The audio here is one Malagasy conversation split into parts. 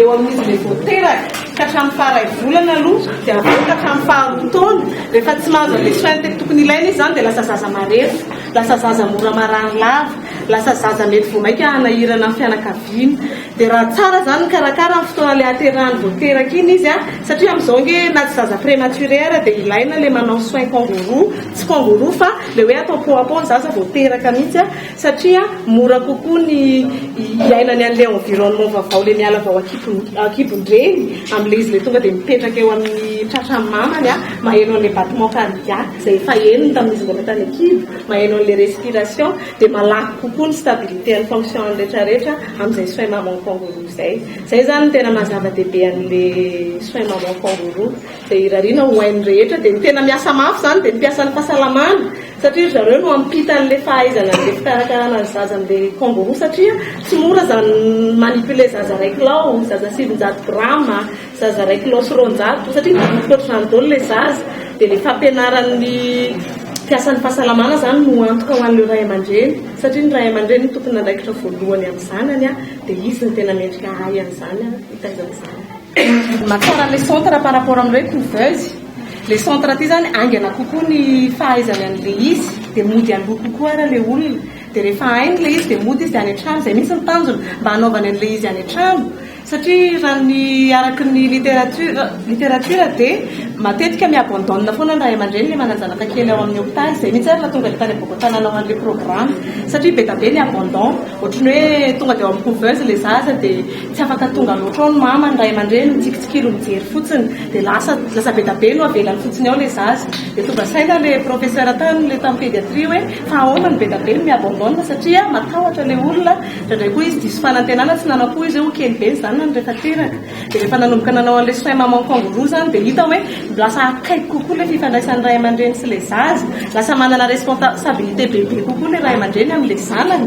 eo amin'ny izy ilay vao teraka ka hatramin'ny faha iray volana aloha dia avy eo ka hatramin'ny faha roa taona rehefa tsy mahazo an'ilay soins tena tokony ilaina izy izany dia lasa zaza marefo lasa zaza mora marary lava lasa zaza mety vao mainka hanahirana ny fianakaviana dia raha tsara izany ny karakara amin'ny fotoana ilay haterahany vao teraka iny izy a satria amin'izao ange na tsy zaza prématuré ara dia ilaina ilay manao soins kangourou tsy kangourou fa ilay hoe atao peau à peau ny zaza vao teraka mihitsy a satria mora kokoa ny hiainany an'ilay environnement vaovao, ilay miala vao an-kibon-dreny, amin'ilay izy ilay tonga dia mipetraka eo amin'ny tratran'ny mamany an, maheno an'ilay battement cardiaque izay efa henony tamin'izy mbola tany an-kibo, maheno an'ilay respiration, dia malaky kokoa ny stabilité an'ny fonction-ny rehetrarehetra amin'izay soins maman kangourou izay. Izay izany no tena maha zava-dehibe an'ilay soins maman kangourou, izay irariana ho ain'ny rehetra, dia ny tena miasa mafy izany dia ny mpiasan'ny fahasalamana, Satria ry zareo no hampita an'le fahaizana an'le fikarakarana ny zaza an'le kangourou satria tsy mora zany mi-manipuler zaza iray kilao, zaza sivinjato grama, zaza iray kilao sy roanjato satria mivovoka ohatr'izany daholo le zaza dia le fampianaran'ny mpiasan'ny fahasalamana zany no antoka ho an'ireo ray aman-dreny satria ny ray aman-dreny no tompon'andraikitra voalohany amin'ny zanany an, dia izy no tena mendrika hahay an'izany an, hitaiza ny zanany. Ny mahatsara an'le centre par rapport amin'ireo couveuse. Le centre ty zany haingana kokoa ny fahaizany anle izy de mody aloha kokoa ara le olona de rehefa hainy le izy de mody izy de any antrano zay mintsy ny tanjona mba hanaovany anle izy any antrano satria raha ny araky ny literature literature de matetika mi abandonne foana ny ray aman-dreny le manan-janaka kely ao amin'ny hopitaly zay mintsy ary nahatonga le tany amboaboka nanao anle programme satria be da be ny abandon ohatry ny hoe tonga de ao amin'ny couveuse le zaza de Tsy afaka tonga loatra ao ny mama, ny ray aman-dreny, mitsikitsikilo mijery fotsiny. Dia lasa, lasa be da be no avelany fotsiny ao ilay zaza. Dia tonga saina ilay professeur tany, ilay tany pédiatrie hoe fa ahoana no be da be no mi-abandonne satria matahotra ilay olona, indraindray koa izy diso fanantenana, tsy nanao akory izy hoe ho kely be ny zanany rehefa teraka. Dia rehefa nanomboka nanao an'ilay soins maman kangourou izany dia hita hoe lasa akaiky kokoa ilay fifandraisan'ny ray aman-dreny sy ilay zaza. Lasa manana responsabilité bebe kokoa ilay ray aman-dreny amin'ilay zanany.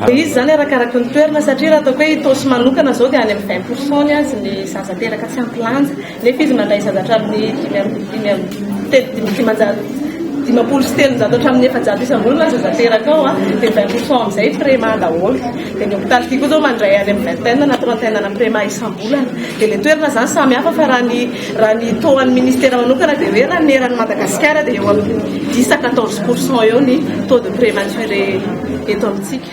Dia izy izany arakaraky ny toerana satria raha ataoko hoe Itaosy manokana izao dia any amin'ny vingt pourcent ny azy ny zaza teraka tsy ampy lanja nefa izy mandray zaza hatramin'ny dimy amby dimy amby telo dimy dimanjato dimampolo sy telonjato hatramin'ny efajato isam-bolana ny zaza teraka ao a dia vingt pourcent amin'izay Prema daholo dia ny hôpitaly ity koa izao mandray any amin'ny vingtaine na trentaine ana Prema isam-bolana dia ilay toerana izany samy hafa fa raha ny Raha ny tohan'ny ministera manokana dia hoe raha ny eran'i Madagasikara dia eo amin'ny dix à quatorze pourcent eo ny taux de prématuré eto amintsika.